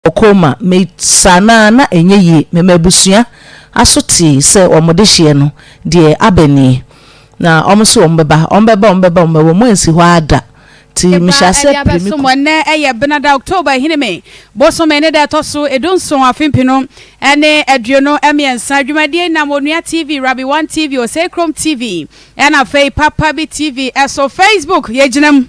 ɔkɔɔ ma me saa no a na ɛnyɛ yie. Me m'abusua aso tee sɛ wɔn dehyeɛ no deɛ aba nie. Na wɔn se wɔn bɛba, wɔn bɛba, wɔn bɛba, wɔn bɛba, wɔn ansi hɔ ara da. Nti me hyɛɛ aseɛ pere me kɔ. Ɛbaa ɛde abɛso mo ɛnnɛ ɛyɛ Benada October Ahinime bosome ne da ɛtɔ so edu nson afe mpenu ɛne aduonu ɛmiɛnsa. Dwumadie yi nam Onua TV, Rabi One TV, Osei Krom TV ɛna afei Papa Bi TV ɛso. Facebook yɛgyina mu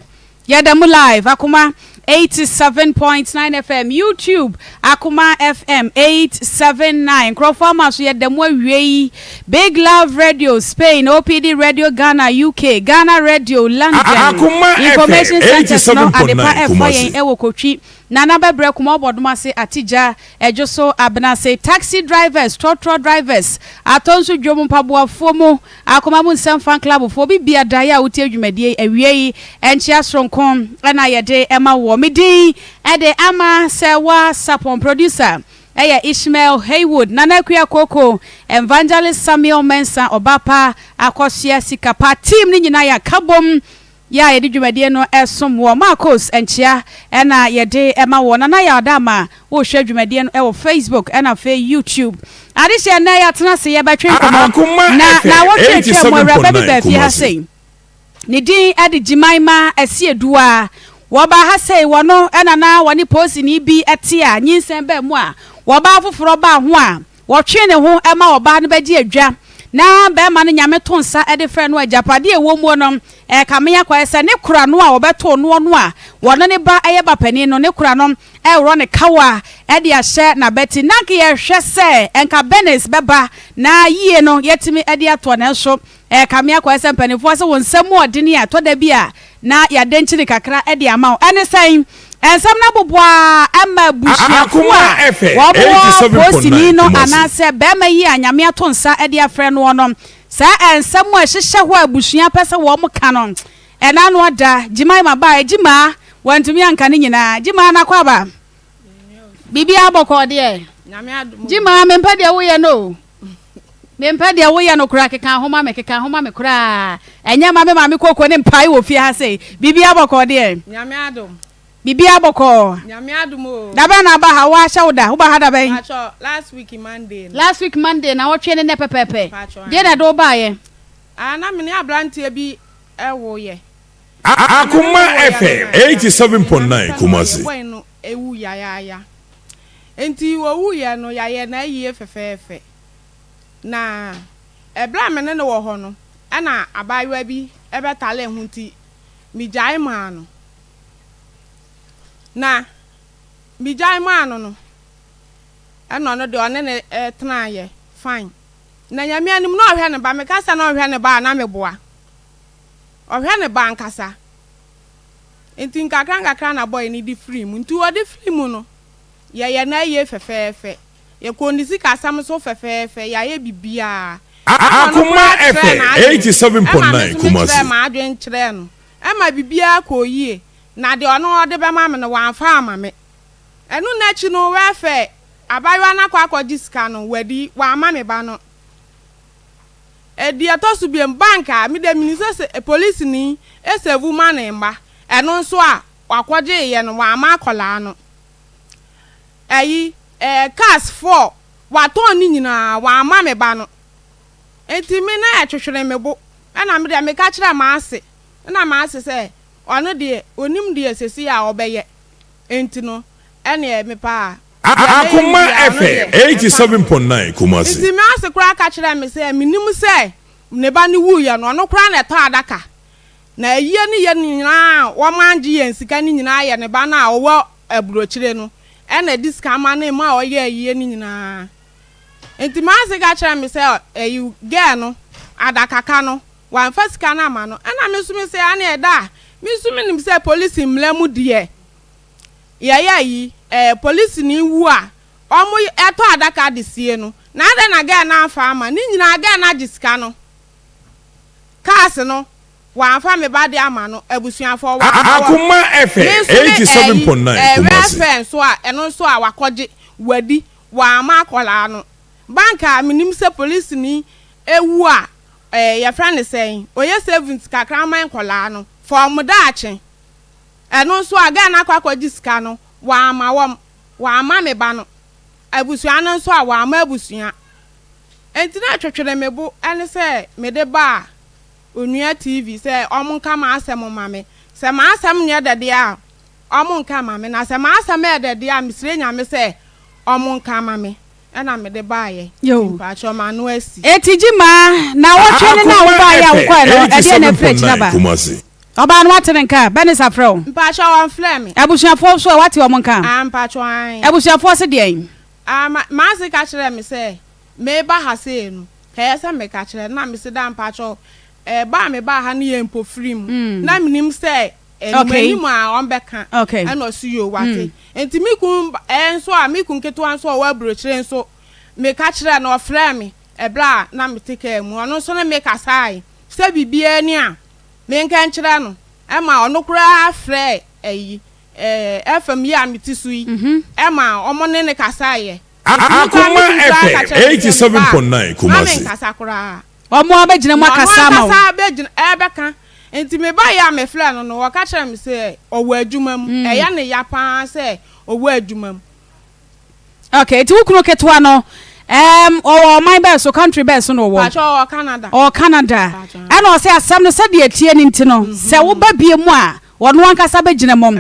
Yɛda mu live Akoma eighty seven point nine FM YouTube Akoma FM eight seven nine nkurɔfoɔ ama so yɛda mu awie yi Big Love Radio Spain OPD Radio Ghana UK Ghana Radio London Akoma FM Information eighty Centres seven no point adepa nine ɛfa Kumasi. yɛn ɛwɔ Kotwi Nana Bɛbrɛ Kuma Ɔbɔdom ase Atigya Ɛdwoso Abenase Taxi Drivers Trɔtrɔ Drivers Atɔnso Dwom Mpaboafoɔ mu Akoma mu nsɛm fa Nklabofo. Obi bia daeɛ a wotie dwumadie yi awiei nkyea soronko na yɛde ma woɔ. Me din de Ama sɛ wa sapɔn Producer yɛ Ishmael Haywood Nana Akua Koko Evangelist Samuel Mensah Ɔba pa Akɔsoɛ Sika pa Team no nyinaa yɛ aka bom. Yɛ a yɛde dwumadie no som wɔ Marcos nkyea na yɛde ma wo. Nana Yaw Dama, wohwɛ dwumadie no wɔ Facebook na afei YouTube. Adehyeɛ nnɛ yɛatena ase yɛbɛtwe nkɔmmɔ na nawɔtwe atwam awuraba bi baa fie ha sei. Ne din de Jimaima Asieduwa. Wɔbaa ha sei wɔno na na wɔne poosini bi te a nyinsɛn baa mu a wɔbaa foforɔ baa ho a, Wɔtwe ne ho ma ɔbaa no bɛgye adwa na barima no nyame to nsa de frɛ no a, agyapadeɛ a ɛwɔ muo no ɛrekame akɔyɛ sɛ ne kora no a wɔbɛtoo noɔ no a wɔne ne ba yɛ ba panin no, ne kora no ɛreworɔ ne kawa de ahyɛ n'abati. Nanka yɛhwɛ sɛ nka Bernice bɛba na yie no yɛatumi de atoɔ nanso Ɛyɛ kame akwae sɛ mpanyimfo ase wo nsɛm mu ɔdene a ɛtɔ da bi a na yɛadankyini kakra de ama wo. Ɛne sɛn? Nsɛm no abobow ara ma abusuafo a wɔwɔ postini no anaasɛ barima yi a Nyame ato nsa de afrɛ noɔ no, saa nsɛm a ɛhyehyɛ hɔ a abusua pɛ sɛ wɔka no, ɛna ano ada. Gyimaa ma baa, Gyimaa wantumi anka ne nyinaa. Gyimaa na kɔ aba. Biribiara bɔkɔɔ deɛ? Gyimaa mempɛ deɛ woyɛ no o. Mempɛ deɛ woyɛ no koraa keka ho ma me keka ho ma me koraa ɛnyɛ ma me maame koko ne mpae wɔ fie ha sei biribiara bɔkɔɔ deɛ Nyame adom. biribiara bɔkɔɔ Nyame adom o. dabɛn na aba ha woahyɛ wo da woba ha dabɛn Paatwɔ last week Monday no. last week Monday na wɔtwe ne nnɛ pɛpɛɛpɛ Paatwɔ deɛ na aane. ɛde wo baeɛ. Ah na mene abranteɛ bi ɛwo yɛ. Akoma FM eighty seven point nine Kumasi. Enti owuiɛ no, yɛayɛ no ayie fɛfɛɛfɛ. Na ɛberɛ a me ne no wɔ hɔ no, ɛna abaayewa bi bɛtalee ho nti, megyae maa no. Na megyae maa no no, ɛna ɔno deɛ ɔne no tenaeɛ fine. Na Nyame anim na ɔhwɛ ne ba. Meka sɛ na ɔnhwɛ ne ba a, na meboa. Ɔhwɛ ne ba ankasa. Nti nkakrankakra na bɔy no de firii mu. Nti ɔde firii mu no, yɛyɛ no ayie fɛfɛɛfɛ. Yɛkɔɔ ne sikasɛm so fɛfɛɛfɛ, yɛayɛ biribiara. Ɛma no koraa kyerɛɛ n'adwene. Ɛma me nso mekyerɛɛ m'adwene kyerɛɛ no. Ɛma biribiara kɔɔ yie. Na deɛ ɔno ɔde bɛma me no, wamfa amma me. Ɛno no akyi no, wɛfɛɛ abaayewa no akɔ akɔgye sika no, wadi, wamma me ba no. Deɛ ɛtɔ so biom, bank a me deɛ menim sɛ sɛ polisini sɛvu ma ne mma, ɛno nso a wakɔgyeeɛ no wamma akwadaa no. Ɛyi eh, cars four watɔn ne nyinaa wamma me ba no. Nti me na ɛtwetwere me bo, ɛna me deɛ meka kyerɛɛ m'ase, ɛna m'ase sɛ ɔno deɛ ɔnim deɛ seesei a ɔbɛyɛ, nti no ɛneɛ mepaa Akoma Efe, age 7.9, Kumasi. Enti me ase koraa ka kyerɛɛ me sɛ, Mennim sɛ ne ba no wuiɛ no, ɔno koraa na ɛtɔ adaka, na ayie ne yɛn nyinaa a wɔma gye yɛn sika no nyinaa yɛ ne ba no a ɔwɔ aburokyire no na ɛde sika ma no ma ɔyɛ ayie no nyinaa. Enti me ase ka kyerɛɛ me sɛ, Ɛyi girl no, adakaka no, wamfa sika no amma no. Ɛna me nso me sɛ, Aane ɛda a, me nso menim sɛ polisi mmara mu deɛ, Yɛyɛ ayi ɛɛ polisini wu a ɔmo ɛtɔ adaka de sie no na adɛn na gɛɛ no anfa ama ne nyinaa gɛɛ no agye sika no cars no wanfa me ba de ama no abusuafoɔ wanfa wɔn Akoma FM me nso ne eighty seven ɛyi point nine ɛɛ Kumasi. welfare nso a ɛno nso a wakɔgye wadi wamma akwadaa no bank a menim sɛ polisini ɛwu a ɛɛ yɛfrɛ no sɛn ɔyɛ savings kakra ma nkwadaa no for wɔn daakye. Ɛno nso a Ghana akɔ akɔgye sika no wamma wɔn, wamma me ba no abusua no nso a wamma abusua. Enti na ɛtwetwere me bo ne sɛ mede baa Onua TV sɛ wɔnka m'asɛm mma me. Sɛ m'asɛm nyɛ dɛ deɛ a wɔnka mma me, na sɛ m'asɛm yɛ dɛ deɛ a mesrɛ Nyame sɛ wɔnka mma me. ɛna mede baeɛ nti mpakyɛw ma ano asi. Eti Gyimaa, naawɔtwe ne na a wobae yɛ a wokɔe no, ɛdeɛn na ɛfiri akyiri aba? Ɔbaa no wate ne nka? Bernice afrɛ wo? Mpakyɛw wɔmfrɛɛ me. Abusuafoɔ nso ɛ, wate wɔn nka? Ah, mpakyɛw aane. Abusuafoɔ se deɛn? Ah, ma, m'ase ka kyerɛɛ me sɛ meba ha sei no, ɛyɛ sɛ meka kyerɛ no, na mese daa mpakyɛw, ɛɛ, ba a mebaa ha no yɛ mpofirim, na menim sɛ Animanim a ɔmbɛka na ɔse yoo wate. Nti me kun nso a me kun ketewa nso a ɔwɔ aburokyire nso meka kyerɛɛ no ɔfrɛɛ me ɛberɛ a na mete kaa mu ɔno nso ne me kasaae sɛ biribiara ni a menka nkyerɛ no ɛma ɔno koraa frɛɛ ayi ɛɛ FM yi a mete so yi ɛma ɔmo ne ne kasaaeɛ. Akoma FM 87.9 Kumasi. Wɔn ara bɛgyina mu Na ɔno akasa ama wo. ankasa bɛgyina ɛrebɛka. Enti mebaeɛ a mefrɛɛ no no, ɔka kyerɛɛ me sɛ ɔwɔ adwuma mu. Ɛyɛ no ya pa ara sɛ ɔwɔ adwuma mu. Okay, enti wo kunu ketewa no, ɛɛm, ɔwɔ ɔman bɛn so, country bɛn so na ɔwɔ? Paatwɛ ɔwɔ Canada. Ɔwɔ Canada. Paatwɛ. Ɛna ɔse asɛm no sɛdeɛ ɛteɛ no nti no, sɛ woba bie mu a, Ɔno ankasa bɛgyina mu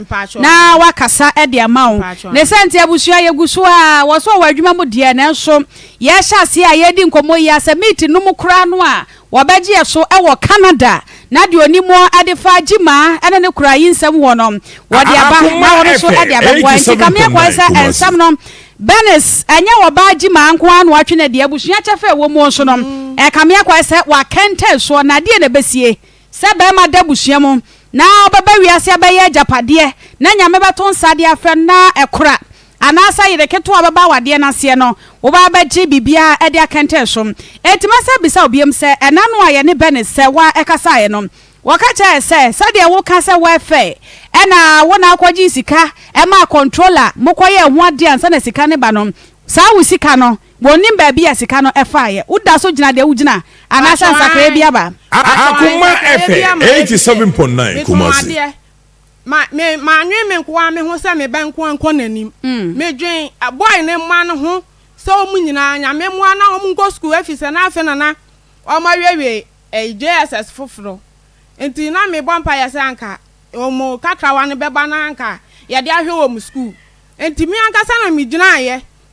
na wakasa de ama wo. Ne sɛ nti abusua yɛgu so ara, wɔ so wɔ adwuma mu deɛ nanso yɛrehyɛ aseɛ a yɛredi nkɔmmɔ yi a sɛ meet no mu koraa no a wɔbɛgye yɛ so wɔ Canada na deɛ ɔnim mu adefa Gyimah ne ne kora yi nsɛm hɔ no wɔde aba na wɔn nso de abɛboa nti kame akwan sɛ nsɛm no Bernice ɛnyɛ ɔbaa Gyimah nko ara na watwe no deɛ abusua kyɛfa ɛwɔ mu nso no ɛkame akwan sɛ wakɛntɛn soɔ na adeɛ na ɛbɛsie Sɛ barima da abusua mu na ɔbɛba wiase abɛyɛ agyapadeɛ na Nyame bɛto nsa de afrɛ no na ɛkora, anaasɛ yere ketewa bɛba awadeɛ no aseɛ no, woba abɛgye biribiara de akɛntɛn so. Enti mɛsan abisa wo biom sɛ, ɛna no a yɛne Bernice sɛ wa ɛkasaeɛ no, wɔka kyerɛɛ yɛ sɛ sɛdeɛ wo ka sɛ wa ɛfɛ ɛna wo na akɔgyee sika ɛmaa controller mokɔyɛɛ ho adeɛ ansa na sika no ba no, saa wo sika no Wɔnnim baabi a sika no faeɛ. Woda so gyina deɛ wogyina anaasɛ nsakraeɛ bi aba? Akoma fm eighty seven point nine Kumasi. Mannwen me nkoaa me ho sɛ me ba nkoaa nkɔ nanim. Medwen boy no mma no ho sɛ wɔn nyinaa Nyame mmoa na wɔn nkɔ sukuu efisɛ na afe no na wɔn awiewie JSS foforo. Nti na mebɔ mpaeɛ sɛ anka wɔn kakrawa no bɛba na anka yɛde ahwɛ wɔn sukuu. Nti me ankasa na megyinaaeɛ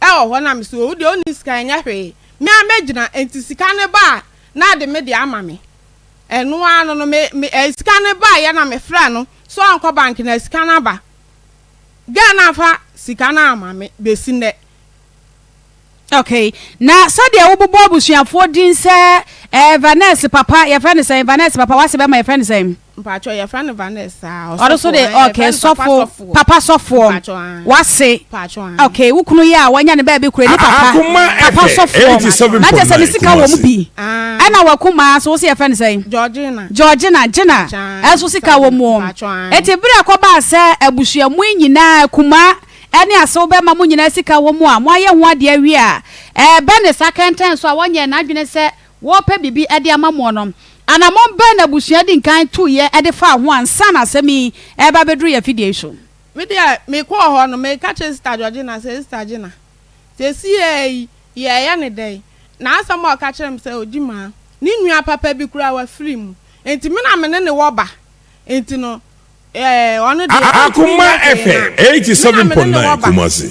ɛwɔ hɔ na me se owu deɛ onni sika ɛnyɛ hwee me ara mɛgyina enti sika no ba a na ɔde me deɛ ama me ɛno ara no no me me ɛɛ sika no baeɛ na me frɛ no sɛ ɔnkɔ bank na sika no aba girl no amfa sika no amma me bɛsi nnɛ. Okay na sɛdeɛ wo bobɔ abusuafoɔ din sɛ ɛɛ Vaness papa yɛfrɛ no sɛn Vaness papa wase bɛma yɛfrɛ no sɛn. Mpatsɔ yɛfrɛ no Vanessa a, ɔsɔfoɔ. Ɔno so de, okay, sɔfo, papa sɔfoɔ. Mpatsɔ ah. Wase. Mpatsɔ ah. Okay, wo kunu yɛ a wanya ne baabi kura ne papa. Papa sɔfoɔ. Na kyɛ sɛ ne sika wɔ mu bi. Ɛna wakuma so wosɛ yɛfrɛ no sɛn? Georgina. Georgina, Gina. Ɛso sika wɔ mu. Eti bere a kɔbaa sɛ abusua mu nyinaa kuma ɛne asew bɛma mo nyinaa sika wɔ mu a moayɛ ho adeɛ awie a ɛɛbɛ ne sa kɛntɛn so a wɔnyɛ n'adwene sɛ wɔrepɛ biribi de ama mo no, anammɔn bɛn na abusua dii kan tuiɛ de faa ho ansa na asɛm yi reba abɛduru yɛn afidie yi so? Me deɛ, mekɔɔ hɔ no, meka kyerɛɛ Sista Georgina sɛ, Sista Gina, seesei yi, yɛreyɛ no dɛn? Na asɛm a ɔka kyerɛɛ me sɛ, Ɔdi mu ara, ne nua papa bi koraa, wafiri mu. Enti me na me ne no wɔ ba. Enti no, ɛɛ, ɔno deɛ, ɔrentumi nyɛ hwee mma me. Me na me ne no wɔ ba.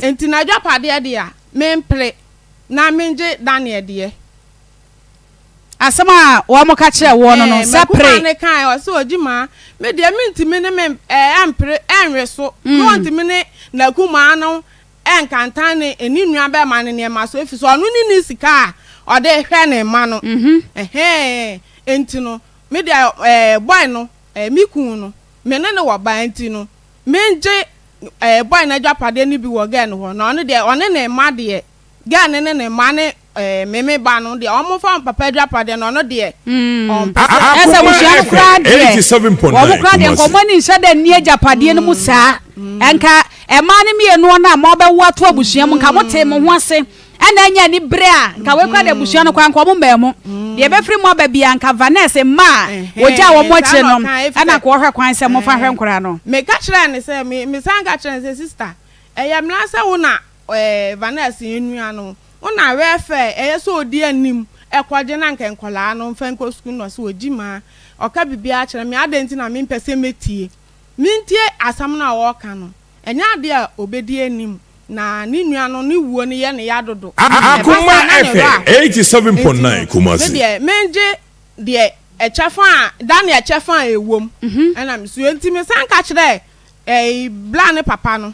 Enti n'adwapadeɛ deɛ, mempere na mengye Daniel deɛ. asɛm a wɔka kyerɛɛ woɔ no no sɛ pere. M'akumaa no kaeɛ, ɔse, Ogyimaa, me deɛ mentumi ne me mpere nnwe so, na ɔntumi ne n'akumaa no nka ntan ne ne nuabɛma no nneɛma so, ɛfiri sɛ ɔno ne ne sika a ɔde hwɛ ne mma no. Enti no, me deɛ bɔe no, me kunu no, me ne no wɔ ba, enti no, mengye bɔe no agyapadeɛ no bi wɔ gɛɛ no hɔ, na ɔno deɛ, ɔne ne mma deɛ. Girl no ne ne mma ne ɛɛ meme ba no deɛ wɔn fa wɔn papa adwapadeɛ no ɔno deɛ ɔmpɛ sɛ. Hmm. Ɛsɛ abusua no koraa deɛ wɔn koraa deɛ nkɔmɔ ani nhyɛ dɛ nni agyapadeɛ no mu saa nka mmaa no mmienu no a mo abɛwo ato abusua mu nka mo te mo ho ase ɛna anya ni bere a nka wɔn koraa deɛ abusua no koraa nka wɔn mmaa mu deɛ ebɛfiri mu aba bia nka vanessa mmaa ogya wɔn mo akyire no ɛna nka wɔhwɛ kwan sɛ mo fa hwɛ nkora no. meka kyerɛ ne sɛ mesan ka kyerɛ ne sɛ sista ɛyɛ mmara sɛ wo na Ɛɛ Vanessa yɛn nua no wo na wɛfɛ ɛyɛ sɛ odi anim ɛkɔgye na nka nkɔlaa no mfa nkɔ sukuu no ɔse ɔgyi maa ɔka bibiaa kyerɛ me adɛn nti na mempɛ sɛ mɛtie mentie asɛm no a ɔɔka no ɛnyɛ adeɛ a ɔbɛdi anim na ne nua no ne wuo no yɛ no ya dodo ɛba saa na ne werɛ aho nti no me deɛ mengye deɛ ɛkyɛfa a da ne ɛkyɛfa a ɛwom ɛna mesua nti mesan ka kyerɛ ɛɛ bra ne papa no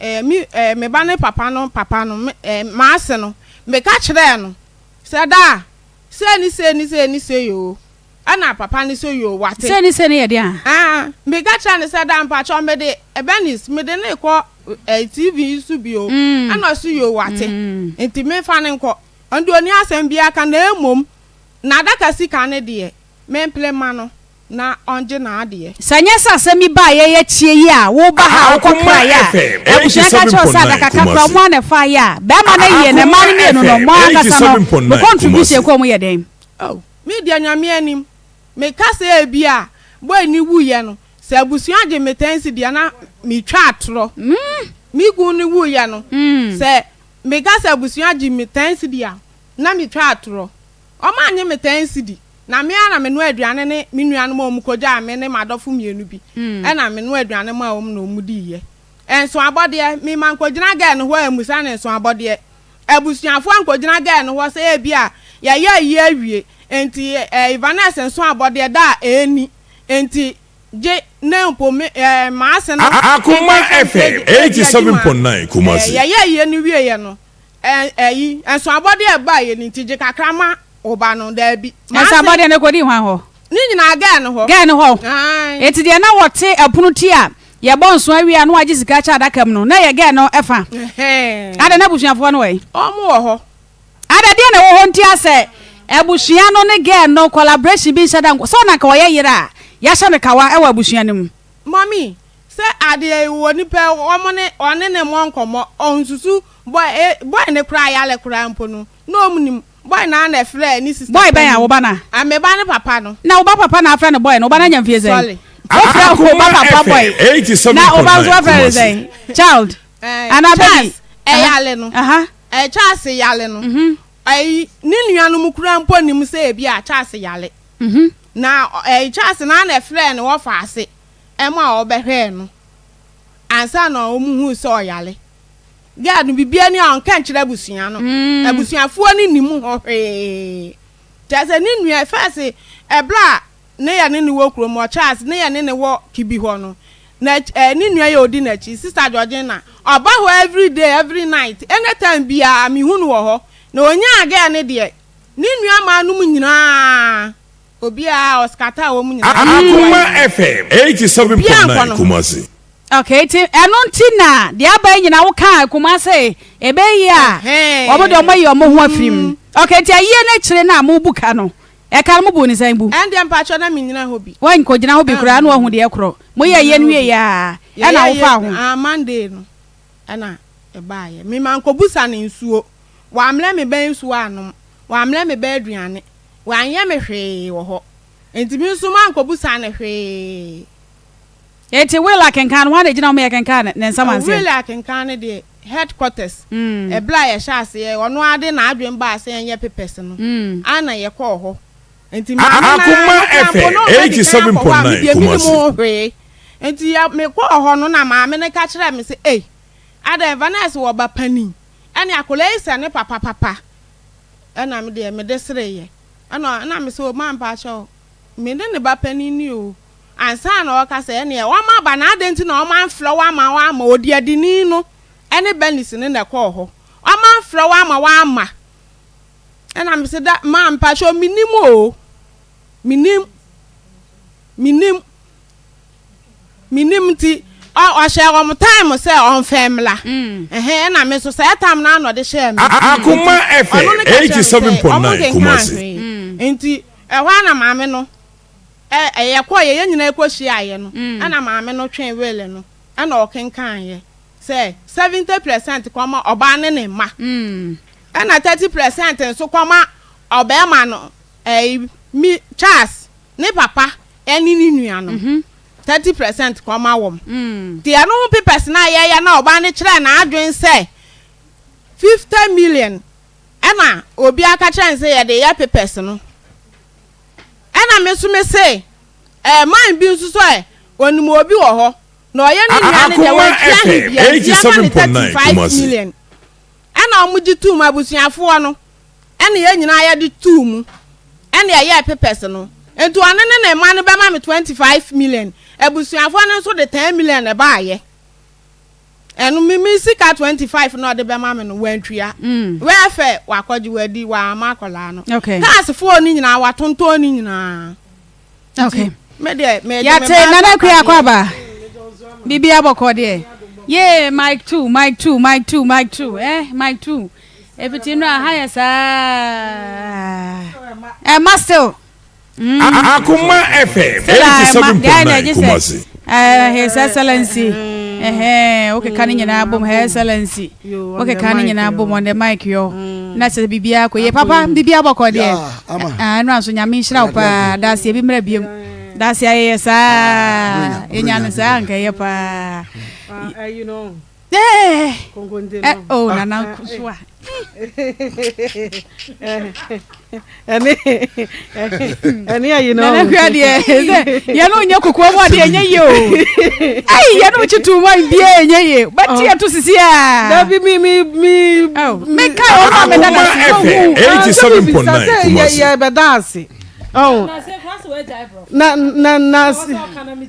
eh, me, eh, me ba ne papa no papa no me, eh, m'ase no meka kyerɛɛ no sɛ daa sei ne sei ne sei ne sei o ɛna papa ne sɛ yoo wate sei ne sei ne yɛ deɛ a ah, meka kyerɛɛ no sɛ daa mpakyɛw mede ɛbɛnis mede ne kɔ eh, tv yi so bio mm. ɛna ɔso yoo wate mm. nti mefa ne nkɔ ɔnde ɔni asɛm biara ka na mmom na adaka sika ne deɛ mempere ma no na ɔngye n'adeɛ. Sɛ ɛnyɛ sɛ asɛm yi baa yɛn akyie yi a woreba ha a wokɔ kraeɛ a, abusua ka kyerɛ wo sɛ adaka kakra ɔmo ara na ɛfaa yɛ a, bɛɛma no yie na mmaa no mmienu no ɔmo ankasa no mo contribution kɔ mu yɛ dɛn? Oh, me deɛ Nyame anim, me ka sɛ ebi a boy no wuiɛ no, sɛ abusua gye me ten cedi a na me twa atorɔ. Me kunu no wuiɛ no, sɛ me ka sɛ abusua gye me ten cedi a na me twa atorɔ. Wɔannye me tɛn sidi, na me ara na menoa aduane ne me nuanom a wɔkɔgyaa me ne m'adɔfo mmienu bi na menoa aduane maa wɔn na wɔdiiɛ. Nsoabɔdeɛ, Me mankɔgyina Gern hɔ ammisa no nsoabɔdeɛ. Abusuafoɔ ankɔgyina Gern hɔ sɛ ebia yɛayɛ ayi awie, enti Yvaness nsoabɔdeɛ da a ɛnni, enti gye nnɛ mpo me m'ase no nka sɛ yɛde adi ma. Yɛyɛ ayie no wieeɛ no, Ɛ, ɛyi, nsɔabɔdeɛ a ɛbaeɛ no nti, gye kakra ma wo ba no, daabi. M'ase. Nsɔabɔdeɛ no kɔdii hwan hɔ? Ne nyinaa Gɛɛ no hɔ. Gɛɛ no hɔ. Aane. Enti deɛ na wɔte ɛpono ti a yɛbɔ nsõ awie a na wɔagye sika akyɛ adaka mu no, na ɛyɛ Gɛɛ no fa. Ɛhɛɛ. Adɛn, na abusuafoɔ no wɔ he? Wɔn wɔ hɔ. Adɛn, ɛdeɛn na ɛwɔ hɔ nti a sɛ abusua no ne Gɛɛ no collaboration bi nhyɛ da nkɔ, sɛ na anka ɔyɛ yere a, yɛahyɛ no kawa wɔ abusua no mu? Mummy, Sɛ adeɛ yi wɔ nipa yi wɔn ne ɔne ne mmɔ nkɔmmɔ ɔnsusu boy ee boy ne koraa yale koraa mpo no na ɔmu nim boy naa na ɛfrɛɛ ne sister boy bɛn a wo ba no a me ba ne papa no. Na wo ba papa na afrɛ no boy no wo ba no anya mfie sɛn sorry. Wofrɛ wo ba papa boy na wo ba nso wafrɛ no sɛn child ɛɛ anaa baby Charles ɛyale no aha ɛɛ Charles yale no mhm ɛyi ne nua nom koraa mpo nim sɛ ebi a Charles yale mhm na ɛɛ Charles naa na ɛfrɛɛ no wɔfa ase ma wɔbɛhwɛɛ no ansa na wɔhuu sɛ ɔyare. Girl no, biribiara ni a ɔnka nkyerɛ abusua no. Mm. Abusuafoɔ no nim ho hwee. Kyerɛ sɛ ne nua fɛs ɛberɛ a ne yɛ ne ne wɔ kurom wɔ Charles ne yɛ ne ne wɔ Kibi hɔ no na eh, ne nua yɛ ɔdi n'akyi Sister Georgina ɔba hɔ every day every night anytime biara mehu no wɔ hɔ na ɔnyaa girl ne deɛ ne nua maa nom nyinaa Obiara a ɔskata a wɔn mu nyinaa. Akoma FM eighty seven point nine Kumasi. Okay ti ɛno nti na deɛ aba yi nyinaa wokaa Kumasi ebe yie a wɔn deɛ wɔn ayi wɔn ho afiri mu okay nti ayie no akyire no a mo bu ka no ɛka no mo bu ne sɛn bu. ɛndeɛ mpatsɔ na mi nyina hɔ bi. wɔn nkɔ gyina hɔ bi koraa na wɔn deɛ korɔ mo yɛ ayie no wie yɛ a ɛna wofa ho. ah Monday no ɛna ɛbaa yɛ mi ma nkɔ bu sa ne nsuo wɔamlɛ mi bɛ nsuo anom wɔamlɛ mi bɛ aduane. Wanyɛ me hwee wɔ hɔ. Enti me nso mankɔbisa no hwee. Enti Will akenkan no, hwan na egyina hɔ ma yɛkenkan ne nsɛm anseɛ? Will akenkan no deɛ, headquarters, ɛberɛ a yɛhyɛ aseɛ, ɔno ara de n'adwene baa sɛ yɛnyɛ papers no, ara na yɛkɔɔ hɔ. Enti me ne no ara yɛkaa mpo na ɔbɛdi kan akɔ hɔ a, me deɛ mennim ho hwee. Enti yɛ, mekɔɔ hɔ no na maame no ka kyerɛɛ me sɛ, Ei, adɛn, Vanessa wɔ ba panin, ɛnne akwadaa yi sɛ ne papa papa. Ɛna me deɛ mede sereeɛ. Ɛna na me se Omar mpaakyɛw me ne ne ba panin ni oo. Ansa na ɔreka sɛ ɛneɛ wɔn aba na adɛn nti na wɔn amfrɛ wo ama woamma odiadini no ne Bernice no na ɛkɔɔ hɔ. Wɔn amfrɛ wo ama woamma. Ɛna me se da maa mpaakyɛw menim oo. Menim. Menim. menim nti ɔhyɛɛ wɔn time sɛ ɔmfa mmra ɛhɛn ɛna me nso saa tam no ano de hyɛɛ me Akoma FM 87.9 Kumasi nti ɛhɔ ana maame no ɛyɛ kɔ yɛ yɛn nyinaa kɔ hyia yɛ no ɛna maame no twɛn wele no ɛna ɔkenkan yɛ sɛ 70 percent kɔma ɔbaa ne ne mma ɛna 30 percent nso kɔma ɔbɛɛma no ɛyi mi Charles ne papa ɛne ne nuanom. Thirty percent kɔma wɔn. Nti ɛno ho papers no a yɛyɛ na ɔbaa no kyerɛɛ n'adwene sɛ fifty million ɛna obi aka kyerɛ no sɛ yɛde reyɛ papers no. Ɛna me nso me se ɛɛ man bi nso so ɛ onim obi wɔ hɔ na ɔyɛ ne nua no deɛ wɔatua he bia nti yɛma no thirty five million ɛna wɔn gye tum abusuafoɔ no Ɛna yɛn nyinaa yɛde too mu. Ɛna yɛyɛɛ papers no. Nti ɔno ne ne mma no bɛma me twenty five million. Abusuafoɔ no nso de ten million baeɛ. Ɛno me me sika twenty five na ɔde bɛma me no wantua. Mm. Wɛfɛ wakɔgye wadi wama akwadaa no. Okay. Cars foɔ no nyinaa watontɔn ne nyinaa. okay yàtẹ nana kwe akɔ aba bíbí abọkọ deɛ yee mic two mic two mic two mic two eh mic two efiti nnura aha yɛ saa ɛma eh, still. Mm. akoma fm eighty seven point nine kumasi. Eh, his excellency ɛhɛn eh, eh, okeka ne nyinaa bom her excellency. Wokeka ne nyinaa bom on the mic yɔ na sɛ biribiara kɔ yie papa biribiara bɔkɔ deɛ ɛno anso nyame nhyira wo paa daaseɛ bi mmerɛ biom daaseɛ ayɛyɛ saa yɛnya no saa anka ɛyɛ paa Eh, oh, nana kusuwa. ɛne ɛne ayi na ɔmo kura deɛ sɛ yɛn no nyɛ kokoa mu adeɛ nyɛ yie o ayi yɛn no kyi tuu mu ayi bie nyɛ yie bɛti yɛ to sisi a. dabi mi mi mi. mi ka yɛ ɔmo amɛ dada si yɛ hu eighty seven point nine kumasi. yɛ yɛ bɛ da ase. na na na.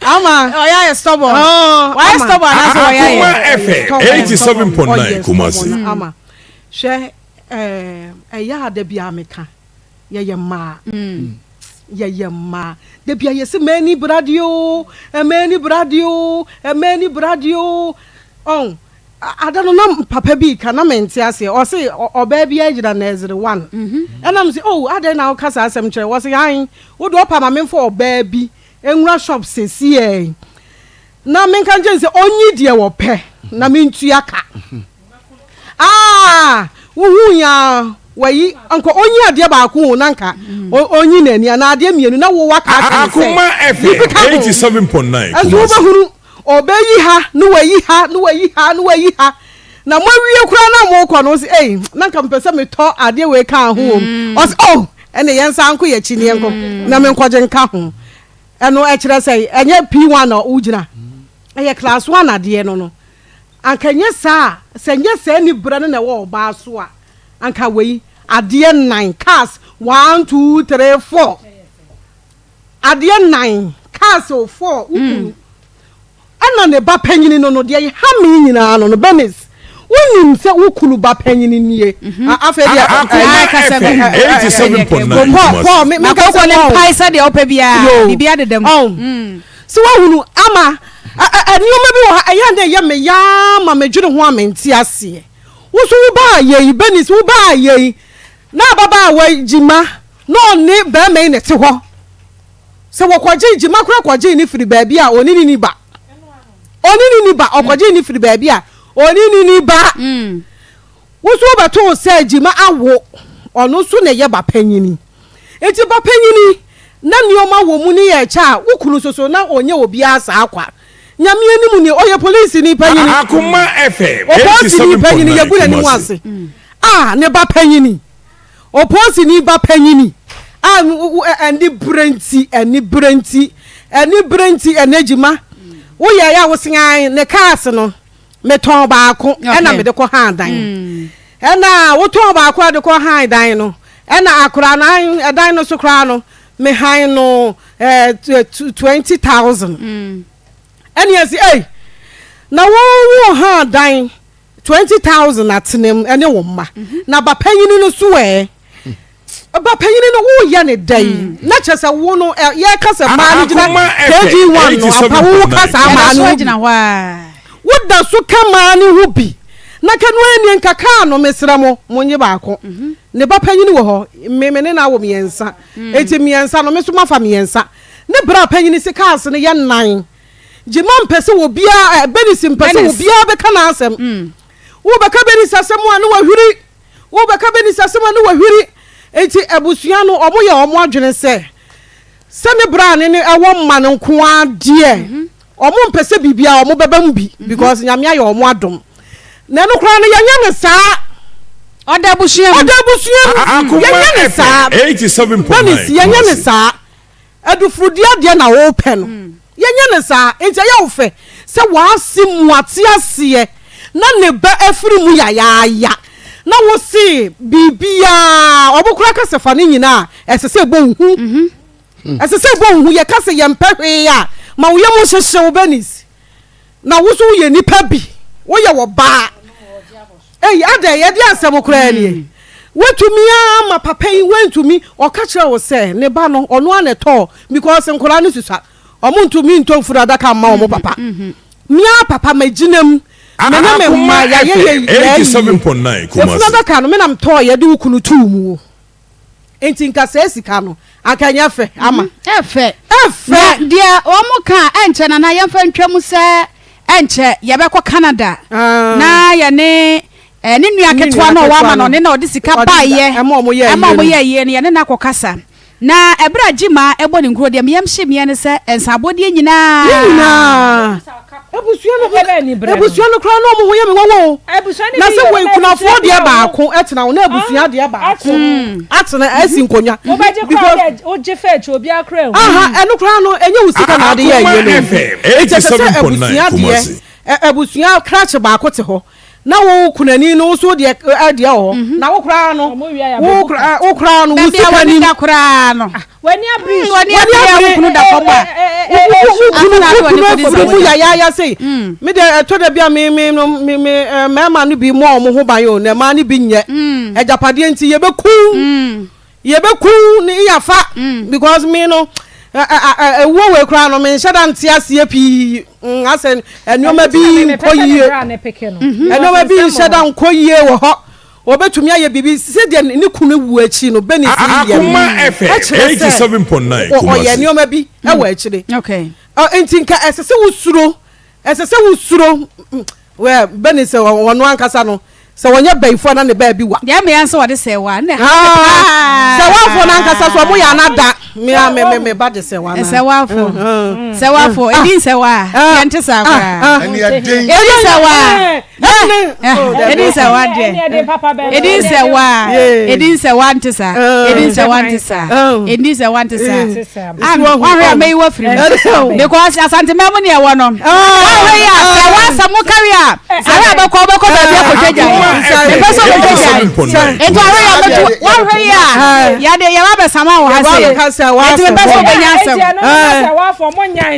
ama ɔyɛ ayɛ stubborn wayɛ stubborn anaasɛ ɔyɛ ayɛ akoma ɛfɛ eighty seven point nine kumasi ama hwɛ ɛyɛ a dabi a meka yɛyɛ mmaa yɛyɛ mmaa dabi a yɛsi mmaa ni bradeɛ o mmaa ni bradeɛ o mmaa ni bradeɛ o ɔn. Ada no na papa bi reka na mente aseɛ. Ɔse ɔbaa bi agyina nursery one. Ɛna mese oh adɛn na woka saa asɛm kyerɛ? Ɔse han wo deɛ ɔpa ma memfa ɔbaa bi nwura shop sesiɛ yi na menka nkyerɛ no sɛ ɔnyi deɛ ɔpɛ na mentua ka. Aah wohuu yi aa wayi anka ɔnyi adeɛ baako o na nka ɔnyi n'ani anaa adeɛ mmienu na wo waka akyerɛ no sɛ difficult o. Ɛnso wobɛhunu. Ɔbɛyi ha na wayi ha na wayi ha na wayi ha na moawie koraa na mokɔ no ɔsi ei na nka mepɛ sɛ metɔ adeɛ wei kaa ho wom mm. ɔsi oh ɛne yɛn nsa nko yɛ akyi ne yɛn nko mm. na menkɔgye nka ho ɛno ɛkyerɛ sɛ ɛnyɛ p1 na wogyina ɛyɛ class one adeɛ no no anka nyɛ saa sɛ nyɛ saa ni berɛ no na ɛwɔ ɔbaa so a anka wei adeɛ nnan cars one two three four Adeɛ nnan kaa sɛ ɔfɔɔ wo kunu ɛna ne ba panyini no no deɛ ɛha me nyinaa no no Bernice wonim sɛ wo kunu ba panyini nie afei deɛ akoma ɛfɛ ɛyɛ seven point nine Paul Paul me me kasa ne mpae sɛ deɛ ɔpɛ biara biribi adeda mu so wahunu ama nneɛma bi wɔ ha ɛyɛ na ɛyɛ me yaa ma medwene ho a mente aseɛ wo so wo baa yɛi Bernice wo baa yɛi na ababaa wa gyima Na ɔne barima yi na ɛte hɔ. Sɛ wɔkɔgyee gyima koraa kɔgyee no firi baabi a ɔne ne ni ba. Ɔne ne ni ba, ɔkɔgyee no firi baabi a ɔne ne ni ba. Mm. Wo nso wobɛtoo sɛ gyima awo, ɔno nso na ɛyɛ bapanyini. Enti bapanyini na nneɛma wɔ mu ne yɛ ɛkyɛ a, wo kunu nso so na ɔnyɛ obiara saa kwa. Nyame anim ni, ɔyɛ polisini panyini. Akoma FM, Ɔpolisini panyini, 87.9 yɛgu n'anim Kumasi. ase. Ah, ne bapanyini. Opoosini ba panyin a anibere nti, anibere nti, anibere nti, Negyima, woyɛe a wosen ae. Ne cars no, metɔn baako na mede kɔ han dan. Ɛna wotɔn baako a de kɔ han dan no, ɛna akora no han dan no so koraa no, me han no ɛɛ twenty thousand. Ɛne ɛsi, ei, na wɔn wɔn han dan. Twenty thousand atenem ne wo mma na ba panyini no so ɛ ba panyini no woyɛ ne dɛ yi na kyerɛ sɛ wo no yɛ ka sɛ maa no gyina kg one no apa wo wo ka saa maa no gyina hɔ a woda so ka maa no ho bi na ka no ɛni nka kaa no mesrɛ mo mo nye baako ne ba panyini wɔ hɔ me me ne na wɔ mmiɛnsa eti mmiɛnsa no me so mafa mmiɛnsa ne bra panyini se kaase no yɛ nan. Gyimah mpɛ sɛ obiara ɛ, Bernice mpɛ sɛ obiara bɛka n'asɛm. Wobɛka Bernice asɛm a, na wahwiri. Wobɛka Bernice asɛm a, na wahwiri. Enti abusua no, wɔyɛ wɔn adwene sɛ, sɛ ne bra ne no wɔ mma no nko ara deɛ, wɔmpɛ sɛ biribiara wɔbɛba mu bi because Nyame ayɛ wɔn adom. Na ɛno koraa no, yɛnyɛ no saa. Ɔda abusua mu. Ɔda abusua mu. Yɛnyɛ no saa. Bernice, yɛnyɛ no saa. Adufudua deɛ na wopɛ no, yɛnyɛ no saa. Enti ɛyɛ wo fɛ sɛ w'ase mu ate aseɛ na ne ba afiri mu yayaaya na wo se biribiara, wɔn koraa ka sɛ fa ne nyina a, ɛsɛ sɛ ɛbɔ wo hu. Ɛsɛ sɛ ɛbɔ wo hu. Yɛka sɛ yɛmpɛ hwee a, ma wo yam nhyehye wo, Bernice. Na wo nso woyɛ nipa bi, woyɛ ɔbaa. Ei adɛn yɛde asɛm koraa nie. Watumi ara ama papa yi wantumi, ɔka kyerɛɛ wo sɛ ne ba no ɔno ara na ɛtɔɔ because nkwadaa no susua. Wɔn ntumi ntɔ mfunu adaka mma wɔn papa. Me ara papa magyina mu, me ne me mma yɛayɛ yɛn yɛayie. Mfunu adaka no me na metɔeɛ de wo kunu too mu. nti nka saa sika no anka nyɛ fɛ ama. Mm-hmm. ɛfɛ ɛfɛ. deɛ wɔn mo ka ɛnkyɛ na na yɛnfa ntwa mu sɛ ɛnkyɛ yɛbɛkɔ Canada. Ah. na yɛne ɛɛ ne nua ketewa na ɔwɔ ama na ɔne na ɔde sika baayɛ ɛma ɔmo yɛ ɛma ɔmo yɛ yie no yɛne na akɔ kasa na ɛbrɛ a gyima ɛbɔ ne nkuro deɛ meyɛm hye mmiɛ ne sɛ nsabɔdeɛ nyinaa. ne nyinaa. Abusua no ho abusua no koraa na wɔn ho yɛ me wɔwɔ o. Na sɛ wɔn akunafoɔ deɛ baako tena o na abusua deɛ baako atena asi nkonnwa. Wobɛgye koraa dɛ wogye fɛ akyi obi akora ehu. Aha ɛno koraa no ɛnyɛ wo sika na ade yɛ ɛyɛ no. Ɛkyɛ sɛ sɛ abusua deɛ abusua krakye baako te hɔ. na wo kunani no nso deɛ adeɛ wɔ hɔ mhm. na wo koraa no wo koraa no wo sika ni da koraa no ah, wani abiri mm, wani abiri a wo kunu da fam a wo kunu wo kunu afɔbi mu yayaaya sei mm. me deɛ ɛtɔ da bi a me me no me me eh, mmarima no bi mu a wɔn ho ban o na mmaa no bi nyɛ mm. agyapadeɛ nti yɛbɛkum yɛbɛkum ne yafa mm. because me no ɛwuo wei koraa no menhyɛ da nte aseɛ pii mm, asɛ nneɔma bi nkɔ yie mhm. nneɔma bi nhyɛ da nkɔ yie wɔ hɔ wɔbɛtumi ayɛ biribi sɛdeɛ ne kunu wu akyi no bɛne siyɛɛkyerɛ sɛ ɔyɛ nneɔma bi wɔ akyire nti nka ɛsɛ sɛ wosuro ɛsɛ sɛ wosuro Wɛ bɛ nim sɛ wɔn ankasa no sɛ wɔnyɛ bɛyifoɔ na ne baabi wa. Deɛ mmea nso wɔde sɛ wa ne ha paa. Sɛ wafoɔ no ankasa so wɔn yɛ ana da mmea me me me ba de sɛ wa na. Sɛ wafoɔ sɛ wafoɔ edi nsɛ wa yɛn ti sa koraa. Edi nsɛ wa edi nsɛ wa deɛ edi nsɛ wa edi nsɛ wa nti sa edi nsɛ wa nti sa edi nsɛ wa nti sa. wahwɛ a mɛyi wafiri mu because asantema mu neɛ wɔ no wahwɛ yi a sɛ woasɛ mo kari a sare a bɛkɔ wobɛkɔ baabi akɔtwa gya mepɛ sɛ wobɛtwa gya nti wahwɛ yi a mɛto wahwɛ yi a yɛde yɛba bɛsama wɔ ha sɛ nti mepɛ sɛ wobɛnya asɛm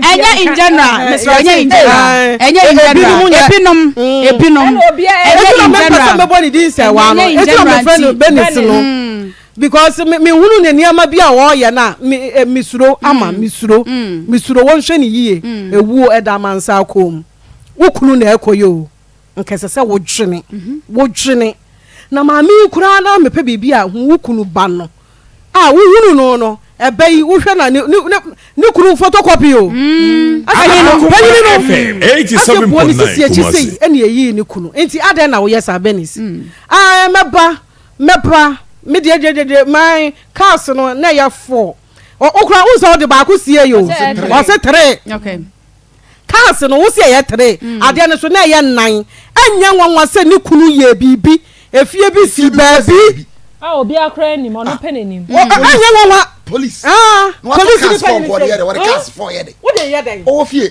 ɛnyɛ in general mesrɛ ɛnyɛ in general ɛnyɛ in general ebinom ebinom ɛnyɛ in general ɛnyɛ in general nti Because me me hunu ne nneɛma bi a ɔɔyɛ no a me eh, me suro ama mm. me suro mm. me suro wɔn hwɛ ne yie mm. ewuo ɛda amansa akɔn mu wo kunu na ɛkɔ yɛ o nkɛsɛ sɛ wodwene mhm. wodwene na maame yi koraa na mepɛ biribi a hu wo kunu ba no a wohunu no no ɛbɛ yi wohwɛ na ne ne ne kunu photocopy o. Mm. ɛyìn no pɛyìn no ɛsɛ buo ne sisi akyi sɛ ɛna eyi ne kunu nti adɛn na woyɛ saa bɛnis. ɛɛ mɛba. Mɛpra me deɛ deɛ deɛ deɛ my cars no na ɛyɛ four ɔ okura wo nsɛ ɔde baako sie yi o ɔse three okay cars no wo se ɛyɛ three mm. adeɛ no so na ɛyɛ nnan ɛnyɛ nwanwa sɛ ne kunu yɛ biribi efie bi si baabi a obi akora anim ɔno pɛ n'anim ɛnyɛ nwanwa police ah police ni pɛ n'anim sɛ o de yɛ dɛ ɔwɔ fie.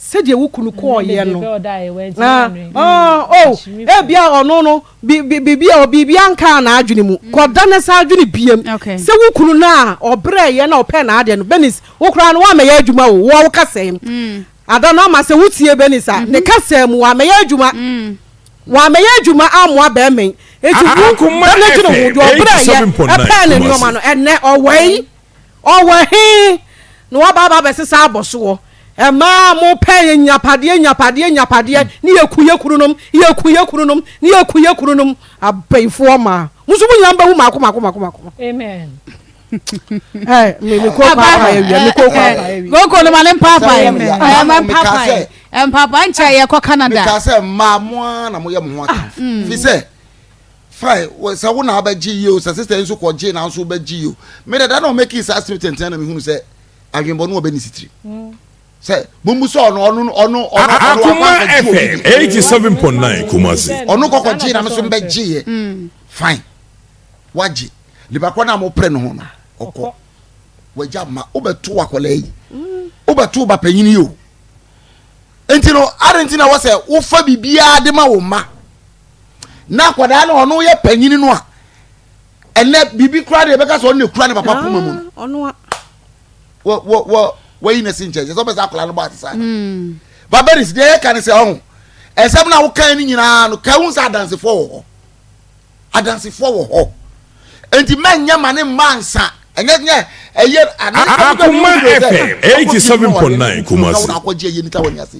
Sɛdeɛ wo kunu kɔeɛ no, na ɔɔ oh, ebia ɔno no biribi a biribi ankaa n'adwene mu. Mm. Kɔda ne saa adwene biam. Sɛ wo kunu no a ɔbrɛɛyɛ na ɔpɛɛ n'adeɛ no, Benis, wo koraa no woamɛyɛ adwuma o, wɔ wo kasɛm. Mm. Ada no ama sɛ wotie Benis a, ne mm-hmm. kasɛm mu wamɛyɛ adwuma. Mm. Wamɛyɛ adwuma amoa bɛrima yi. Eti wo bɛnɛ gyina ho, deɛ ɔbrɛɛyɛ ɛpɛɛ ne nneɛma no, ɛnɛ ɔwɔ yi. Ɔwɔ he na woaba aba abɛsesa abɔsoɔ? Mmaa a mopɛ nnyapadeɛ, nnyapadeɛ, nnyapadeɛ, ne yɛku yɛ kununom, yɛku yɛ kununom, ne yɛku yɛ kununom, abayifoɔ mmaa. Mo nso mo nyinaa mbɛwu mako mako mako mako. Amen. Ɛɛ, me me koko apa yɛ wia, me koko apa yɛ wia. Koko no ma ne mpaapa yɛ, ɛɛ ma mpaapa yɛ, mpaapa nkyɛn yɛ kɔ Canada. Meka sɛ mmaa mo ara na moyɛ mo ho atamfo, fi sɛ. Fae wo sɛ wo na abɛgye yi o sɛ sister yi nso kɔ gyee na nso bɛgye yi o me dɛ da na ɔmɛki saa asem tenten na mehunu sɛ adwenbɔne wɔ bɛ ne sitiri sɛ bumbu sɛ ɔno ɔno ɔno ɔno Akuma FM eighty seven point nine Kumasi. ɔno kɔkɔ gyee na me nso mbɛ gye yɛ fine wagye nipa kɔ na mo pere ne ho no ɔkɔ wagya ma wobɛto akɔla yi wobɛto ba panyin yi o nti no adanti na wɔ sɛ wofa biribiara de ma wo mma. na akwadaa no ɔno yɛ panyin no a ɛnɛ biribi kura deɛ ɛbɛka sɛ ɔno na ekura ne papa poma mu no ah, wɔ wɔ wɔ wɔyi na si nkyɛn sɛ ɔbɛsɛ akwadaa no bɔ ase saa hmm. baberis deɛ yɛka ne sɛ ɔho ɛsɛm na wokan no nyinaa no ka ho sɛ adansefoɔ wɔ hɔ adansefoɔ wɔ hɔ. nti mɛnyɛ ma ne mma nsa ɛnyɛ nyɛ ɛyɛ ana akoma fm eighty seven point nine kumasi. akɔgye ɛyɛ nika wɔ nyase.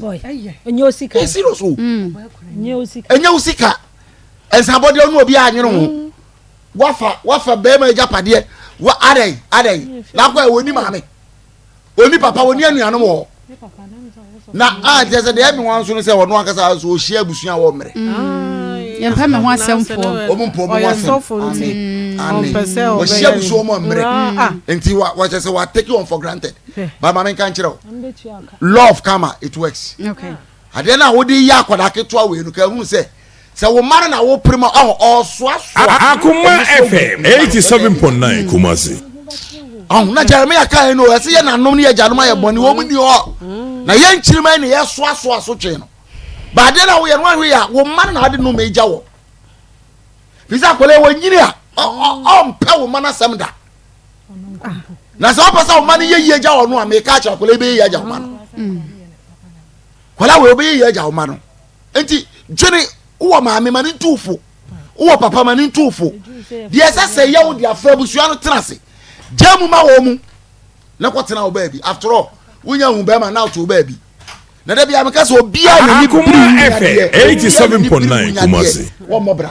ɛnyɛ osika ɛyɛ serious o ɛnyɛ osika ɛnsabɔdeɛ ɔno obi a nyere ho mm. wafa wafa bɛrima agya padeɛ wa adɛn adɛn lakɔ ɛwɔ ni maame. Ɔni papa, ɔni anuanom wɔ hɔ. Na a kyerɛ sɛ deɛ ɛmi wɔn nso no sɛ ɔno ankasa nso ɔhyia abusua a wɔmmrɛ. Mm. Yɛmpɛ me ho asɛmfoɔ. Wɔn mpɔ wɔn ho asɛm. Ane. Wɔhyia abusua wɔn mmrɛ. Ah. Nti wɔkyɛ sɛ wɔatake wɔn for granted. Ba maame nka nkyerɛ o. Love kama it works. Okay. Adeɛ no a wode yɛ akwadaa ketewa wei no ka hunu sɛ sɛ wo mma no na wopere mu a ɔhɔ ɔresoasoa. Akoma FM eighty seven point nine Kumasi. Ɔho na Jeremiah kaa yɛn no ɛsɛ yɛ nanom ne yɛ gyanom ayɛ bɔne wɔn mu ni hɔ na yɛn nkyirimɛ na yɛ soasoa so twɛn no baadeɛ na woyɛ no ahwɛ yɛ a wo mma no na ade nom egya wɔ fisɛ akwadaa wɔ nyini a ɔmpɛ wo mma no asɛm da. na sɛ ɔpɛ sɛ ɔma no yɛyie agya wɔ no a meka akyerɛ akwadaa bɛyɛ yie agya ɔma no kwadaa wei ɔbɛyɛ yie agya ɔma no nti dwene wowɔ maame ma ne ntu fo wowɔ papa ma ne ntu fo deɛ ɛsɛ sɛ yɛ wo de afra abusua no tena ase gya mu ma wɔ mu na kɔtena wo baabi after all wonya hu bɛrima na woto wo baabi na da bia meka sɛ obiaa nani biri wu nyadeɛ obiaa nani biri wu nyadeɛ wɔmmɔbra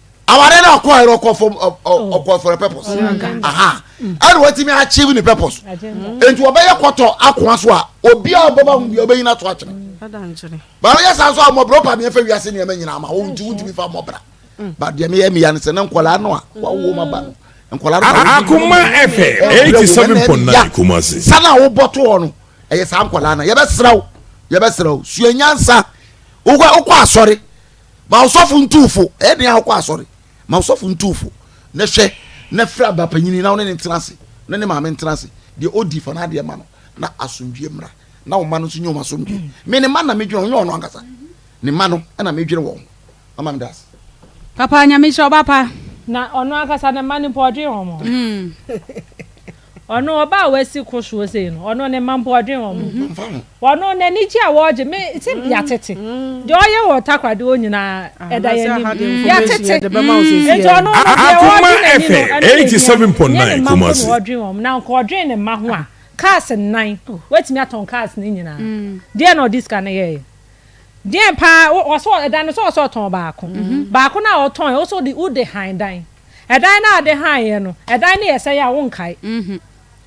aware na ɔkɔ ayerɛ ɔkɔ fam ɔkɔ for a purpose aha ɛna watumi achieve ne purpose nti ɔbɛyɛ kɔtɔ akoa so a obi a ɔbɛba ho bia ɔbɛnyina to akyerɛ baa ɔyɛ saa so a mmɔborɔ pa meɛfa wiase nneɛma nyinaa ma wo nti wontumi fa mmɔbra ba deɛ meyɛ meya no sɛ na nkɔlaa no a wawo ma ba no akoma fm eighty seven point nine kumasi. sani a wobɔ to hɔ no ɛyɛ saa nkɔlaa no yɛbɛsrɛ wo yɛbɛsrɛ wo sua nyansa wokɔ asɔre ma ɔsɔfo ntu fo ɛyɛ den akɔ asɔre ma ɔsɔfo ntu fo na hwɛ na fira aba panyin na ɔne ne ntena ase na ne maame ntena ase deɛ odi fa n'adeɛ ma no na asomdwie mmra na wɔn mma no nso nyɛ wɔn asomdwie me ne mma na medwene wɔn nyɛ wɔn ankasa ne mma no ɛna medwene wɔn ho ama me daase. papa nyame nhyira wo ba pa. na ɔno ankasa ne mma no mpo ɔdwen wɔn ho. Ɔno ɔbaa a wasi ko soɔ sei no, ɔno ne mma mpo ɔdwen wɔn ho. Ɔno n'anigye a wɔregye me sɛ yɛatete. Deɛ ɔyɛ wɔ Takwa deɛ nyinaa ɛda yɛn anim. Yɛatete. Nti ɔno no deɛ ɔregye n'ani no, ɛno yɛ nea ɛnyɛ ne mma mpo na ɔredwen wɔn. Na anka ɔdwen ne mma ho a, cars nnan, watumi atɔn cars no nyinaa. Deɛn na ɔde sika no yɛeɛ? Deɛn pa ara, ɔse ɛdan no sɛ ɔsɛ ɔtɔn baako. Baako no a ɔtɔn, ɔse wode han dan. Ɛdan no a ade hann yɛ no, ɛdan no yɛ sɛe a wonkae.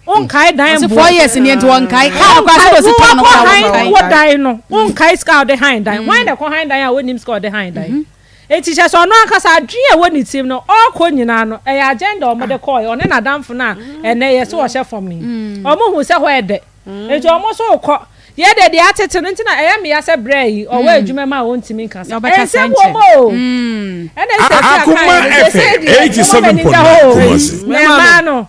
Wonkae dan mmoa. Ɔsi four years ni nti wɔnkae. Kaa no kora sɛ ɔsi tɔn no kora wɔnkae. Wo dan no, wonkae sika a ɔde hann dan. Wɔn na ɛkɔ hann dan a wonim sika a ɔde hann dan. Eti kyɛ sɛ ɔno ankasa adwene a ɛwɔ ne tirim no, ɔrekɔ nyinaa no, ɛyɛ agenda a wɔde kɔe, ɔne n'adamfo no a ɛnnɛ yɛse ɔhyɛ fam no yi. Wɔhu sɛ hɔ yɛ dɛ. Enti wɔn nso rekɔ. Yɛn deɛ deɛ atete no nti na ɛyɛ me ya sɛ brɛ yi ɔwɔ adwuma mu a ɔntumi nka saa. Ɛnsɛm wɔ mu o. Ɛna ɛsɛ sɛ aka yɛn no sɛ sɛ deɛ ɛwɔ m'ani da hɔ o. Mmaa no.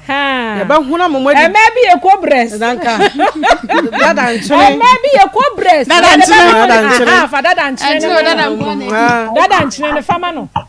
Yɛbɛhona mo mɔdi. Mmaa bi yɛ kɔ brɛs. Dada nkyene. Mmaa bi yɛ kɔ brɛs. Dada nkyene. Fa dada nkyene no ma no. Dada nkyene no fa ma no.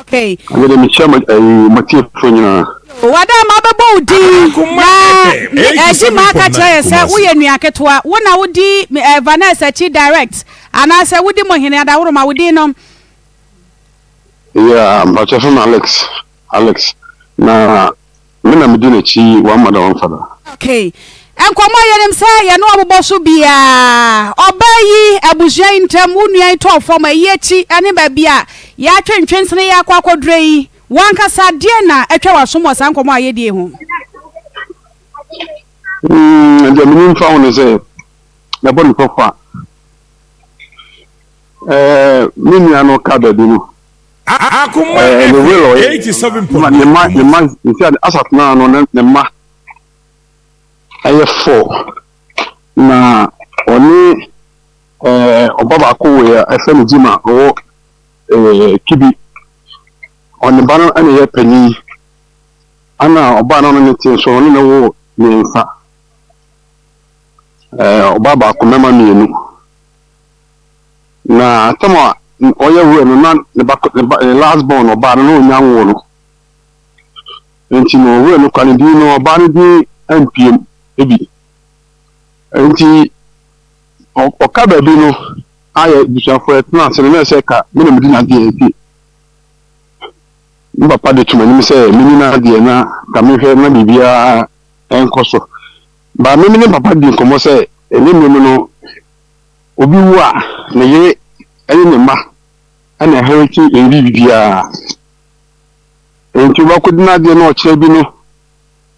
Okay. Mede mehyɛ mo ɛyi eh, mo tiefo nyinaa. Wada ma bɛbɔ wo din na ɛgye ma aka kyerɛ yɛ sɛ woyɛ nua ketewa wo na wodi eh, Vanessa akyi direct anaasɛ wodi mo hene adaworoma wo din no. Yeah, mpakyɛ fam Alex Alex na Me na medi n'akyi yi one mother one father. Okay nkɔmɔ a yɛnim sɛ yɛne wɔn bɔ so biara ɔbaa yi abusua yi ntam wo nua yi tɔɔ fam ayi akyi ne baabi a yɛatwe ntwensene yi akɔ akɔdurɛ yi wankasa deɛ na atwa w'asom wɔ saa nkɔmɔ a yɛdie ho. Mm, deɛ menim fa ho ne sɛ yɛbɔ ne kɔkɔ a ɛɛ me nua no ka baabi no Akoma eh, ne will ɔyɛ. 87 Mma ne mma ne mma nti a asat naa no ne ne mma ɛyɛ four na ɔne ɛɛ ɔba baako wɔ yɛ ɛfɛ ne gyima ɔwɔ ɛɛ kibi ɔne ba no ɛna ɛyɛ panyin ɛna ɔbaa no ne te nso ɔne ne wɔ mmiɛnsa ɛɛ ɔbaa baako mɛma mmienu. Na tam a ɔyɛ werɛ no, na ne ba, ne ba, ne last born ɔbaa no, na ɔnya nwoo no. Nti no, werɛ no kwa ne din no, ɔbaa no din ampiam bi. Nti, ɔka baabi no, ayɛ busuafoɔ ɛtena ase no, na ɛsɛ ka, me na medi n'adeɛ, nti me papa de to m'anim sɛ menni n'adeɛ na ka mehwɛ na biribiara nkɔ so. Ba me ne papa di nkɔmmɔ sɛ, ɛnyɛ mmerɛ mu no, Obi wu a, ne yere ne ne mma na ɛherete nwi biribiara. Enti wobɛkodi n'adeɛ na ɔkyena bi no,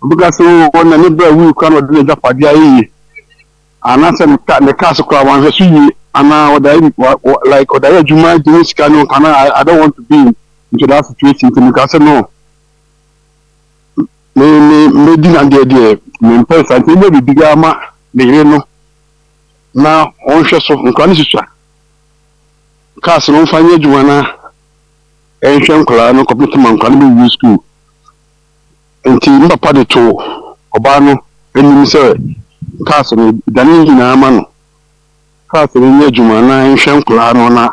wobɛka sɛ oo na ne bra wui koraa na ɔde n'agyapadeɛ ayɛ yie. Anaasɛ ne ka ne kaa so koraa wanhwɛ so yie anaa ɔde ayɛ wa wa like ɔde ayɛ adwuma gye ne sika no can I I don't want to be into that situation nti meka sɛ no me me mɛdi n'adeɛ deɛ mempɛ saa nti mobɔ biribiara ma ne yere no. na wɔn nhwɛso, nkwadaa no susua cars no wɔmfa nyɛ adwuma na ɛnhwɛ nkwadaa no kɔpem ma nkwadaa no bɛwie sukuu. Nti ne papa de too ɔbaa no anim sɛ cars no dane ne nyinaa ma no, cars no nyɛ adwuma na ɛnhwɛ nkwadaa no na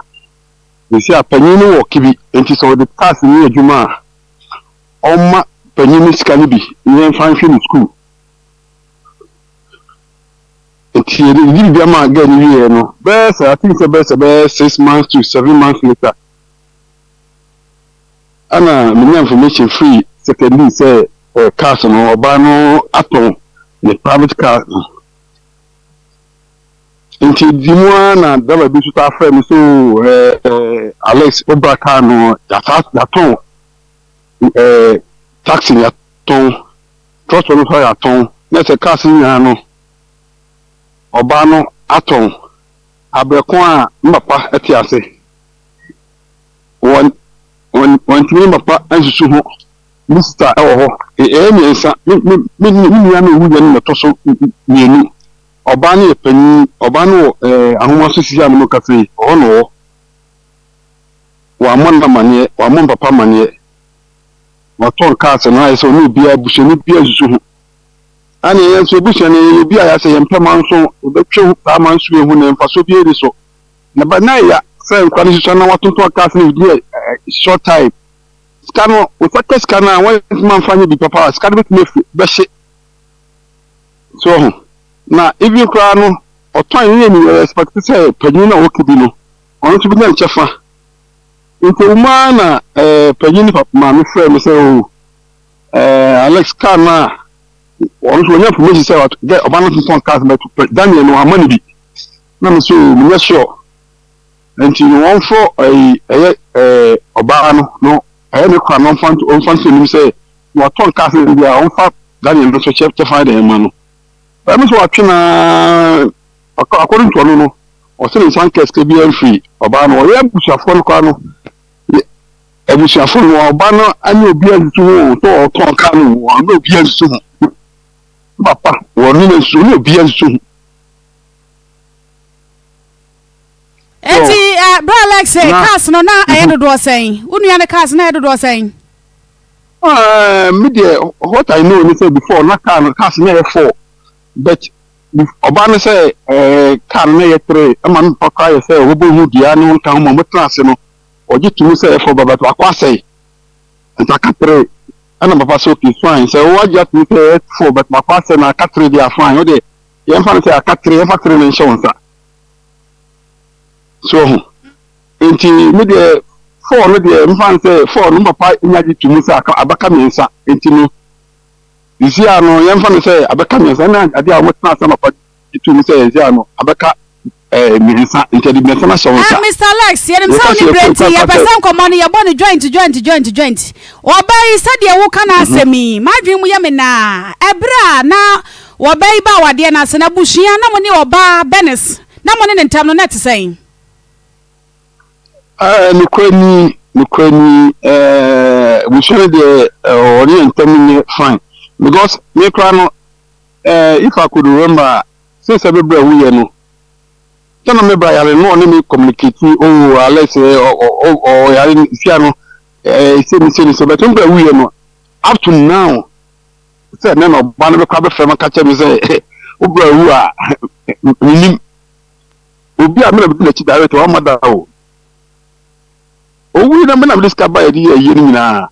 ɛsi a panyin no wɔ kibi, nti sɛ ɔde cars no yɛ adwuma a, ɔmma panyin no sika no bi na ɛmfa nhwɛ ne sukuu. Nti yɛde didi biribiara maa girl no wieɛ no, bɛyɛ sɛ I think sɛ bɛyɛ sɛ bɛyɛ six months to seven months later, ɛna menya information firi secondee sɛ eh, cars no ɔbaa no atɔn ne private car no. Nti di mu ara na driver bi nso taa frɛ me so eh, eh, Alex wobra car no yɛasa yɛatɔn eh, taxi no yɛatɔn Trɔtrɔ no so ayɛ atɔn na sɛ cars no nyaa no ɔbaa no atɔn abrɛ ko a ne papa te ase wɔn wɔn wɔntumi ne papa nsusu ho ne sista wɔ hɔ ɛyɛ mmiɛnsa me me me me nua no owuiɛ no na ɛtɔ so mmienu ɔbaa no yɛ panyin ɔbaa no wɔ ɛɛ ahoma so sisi a ne mo kasa yi ɔhɔ na ɔwɔ wɔammɔ no amaneɛ wɔammɔ ne papa amaneɛ na ɔtɔ nka asɛm na ayɛ sɛ ɔne obiara busuani biara nsusu ho. Saa na yɛn nso abusua no yɛyɛ obi a yɛasɛ yɛn mpɛ ma nso yɛbɛtwe ho paa ma nso yɛahu nea mfasoɔ biara nni so. Na ɛba na ɛya sɛ nkora no susua na wɔatontɔn cars no within a short time. Sika no, wɔsa ka sika no a wɔntumi amfa nyɛ biribi papa a sika no bɛtumi afi bɛhye. So wɔ ho. Na even koraa no ɔtɔn ne yɛ ni yɛ expect sɛ panyin no a ɔwɔ kibi no ɔno nso bɛnya ne kyɛfa. Nkogu mu ara na panyin no papa maame frɛɛ me sɛ, Oo, eh, Alex, car no a wɔn nso wɔnya information sɛ ɔt- dɛ ɔba no tontɔn cars but pɛ- Daniel no wamma no bi. Na me sɛ, Oo, menyɛ sure. Nti no wɔmfrɛ ɛyi ɛyɛ eh, ɔbaa no no ɛyɛ ne kora na ɔmfa nto ɔmfa nto anim sɛ na watɔn cars no bi a ɔmfa Daniel no nso kyɛ kyɛfa de mma no. Ɛno nso watwe no ara According to ɔno no, ɔse ne nsa anka sika biara mfiri ɔbaa no hɔ. Yɛn abusuafoɔ no koraa no, abusuafoɔ no, ɔbaa no anya obiara nsusu ho o, sɛ ɔtɔn kaa no o, ɔne obiara nsusu ho. Ne papa, ɔne no nsusu, ɔne obiara nsusu ho. Eti eh, bra Alex eh, Na, cars no na ɛyɛ mhm. dodoɔ sɛn? Wo nua ne cars na ɛyɛ dodoɔ sɛn? Ah, me deɛ, what I know ne sɛ before na kaa no, cars na ɛyɛ four. But ɔbaa no sɛ car no na ɛyɛ tere ma no papa koraa yɛ sɛ wɔbɔ hu dua ne wɔnka ho ma wɔtena ase no ɔgye to mu sɛ ɛfɔ ba but baako asɛe nti aka tere ɛna papa sɛ okay fine sɛ wo agye atom sɛ ɛfɔ but baako asɛe na aka tere deɛ fine wo deɛ yɛmfa no sɛ aka tere yɛmfa tere no nhyɛ wo nsa so ɔho nti me deɛ fɔɔ no deɛ mfa no sɛ fɔɔ no papa nya gye to mu sɛ abaka mmiɛnsa nti no Sisi a no yɛmfa no sɛ abɛka mmiɛnsa na adeɛ a wɔn tena ase anɔpa gye tum no sɛ yɛn sɛ a no abɛka ɛɛ mmiɛnsa nti yɛde mmiɛnsa no ahyɛ wɔn nsa. Mister Lex, yɛnim sɛ wo ne berɛ nti yɛpɛ sɛ nkɔmmɔ no yɛbɔ no joint joint joint joint. Ɔbaa yi sɛdeɛ woka n'asɛm yi m'adwene mu yɛ me naa. Ɛberɛ a na ɔbaa yi ba awadeɛ no ase no abusua na mo ne ɔbaa Bernice na mo ne ne ntam no na ɛte sɛn? Ɛɛ, nokorɛ ni, nokorɛ ni, ɛɛ, abusua no deɛ ɛɛ, wɔne yɛn ntam nyɛ fine because me koraa no, ɛɛ, if I could remember a, since ɛbɛ berɛ a woyɛ no, sɛ na me bra yare no, na ɔne me communicate, oh, Alex, ɛɛ, ɔ- ɔ- ɔ- ɔ- ɔyare no, sia no, ɛɛ, se ne se ne se, but me bra woyɛ no, up to now, sɛ ɛnɛ na ɔba no bɛkɔ abɛfrɛ me aka kyerɛ me sɛ, wo bra wu a, menim. Obi a me na medi n'akyi daa reka, wamma da o. Owui na me na mede sika baeɛ de yɛ ayie no nyinaa.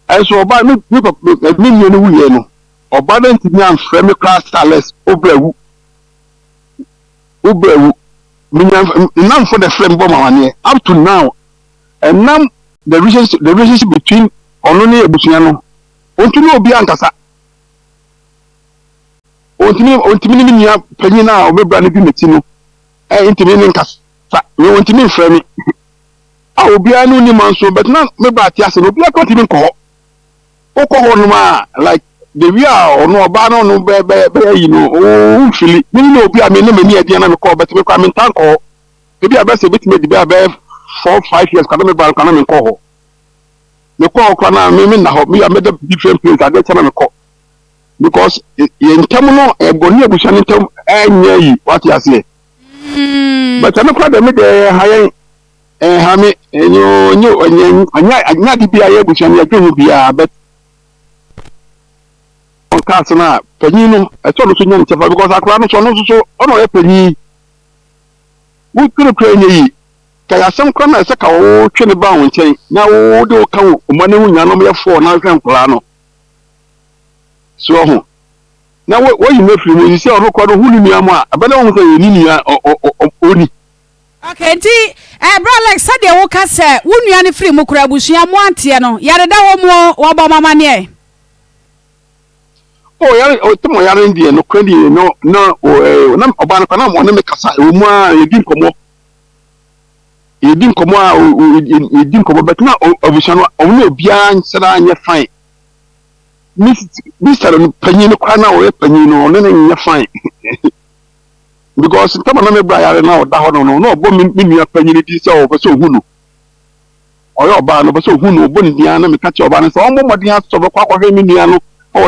Ɛnso ɔbaa me me papa me nua no wuiɛ no, ɔbaa no ntumi amfrɛ me koraa sɛ Alex wo bra wu. Wo bra wu. Menya nnamfo na ɛfrɛ me bɔ m'amaneɛ up to now. Ɛnam the relationship the relationship between ɔno ne abusua no, ɔntumi ne obi ankasa. Ontumi ontumi ne me nua panyin a ɔbɛbra no di m'akyi no eh, ntumi ne nkasa. Me ontumi mfrɛ me. A obiara ne onim nso, but na me bra te ase no obiara kɔ ntumi nkɔ hɔ. Wokɔ hɔ nom a like the way a ɔno ɔbaa no ɔno bɛ bɛ bɛyɛ yi no ooo fili. Me ne obi a me ne m'ani adeɛ na me kɔ but me kɔ a me ntaa nkɔ hɔ. Ebi a bɛsɛ ebetumi adi bɛ a bɛyɛ four five years kɔ a na me bra no kɔ a na me nkɔ hɔ. Me kɔ hɔ kɔ a na me me nna hɔ. Me a mɛda different place adeɛ kyɛ na me kɔ. because yɛn ntam no ɛbɔ ne abusua no ntam ɛnyɛ yi wate aseɛ but ɛno kora dɛm deɛ ɛha yɛn ɛha me ɛnyɛ ɔnyɛ ɔnyɛ ɔnyɛ ɔnyɛ ade bi a yɛ abusua no yɛdwe ho biara but ɔka ase no a panyin no ɛsɛ ɔno so nya ne kyɛfa because akora no so ɔno nso so ɔna ɔyɛ panyin wotwere kora ɛnyɛ yi ka yɛasɛm kora na ɛsɛ ka wotwe ne ba wo nkyɛn na wode wo ka wo ɔma no ho nyina no yɛ fɔɔ na hwɛ nkoraa no So ɔho? Na wo woyi no afiri mu yi sɛ ɔno kɔ no ho ne nua mo a ɛbɛda wɔn ho sɛ yɛn ne nua ɔni. Ok nti ɛɛ bra Lex sɛdeɛ wo ka sɛ wo nua no firi mu kora abusua mo anteɛ no yare da hɔ mu oo wɔ bɔ mo amaneɛ. Oh yare oh tɛmɔ yare no deɛ no kora deɛ no na oh ɛɛ na ɔbaa no kora na ɔne me kasa ɛwɔ mu a yɛdi nkɔmɔ yɛdi nkɔmɔ a yɛdi nkɔmɔ bɛtena abusua no ɔmo na obiara nsɛda anyɛ fine. ne mista no panyin no koraa na ɔyɛ panyin no ɔne no nyɛ fine because ntama na mebra yare na ɔda hɔ no no na ɔbɔ me nua panyin no din sɛ ɔpɛ sɛ ohu no ɔyɛ ɔbaa no ɔpɛ sɛ ohu no ɔbɔ ne din ara na meka kyerɛ ɔbaa no sɛ ɔmmɔ mmɔden asɔ bɛkɔ akɔhwɛ me nua no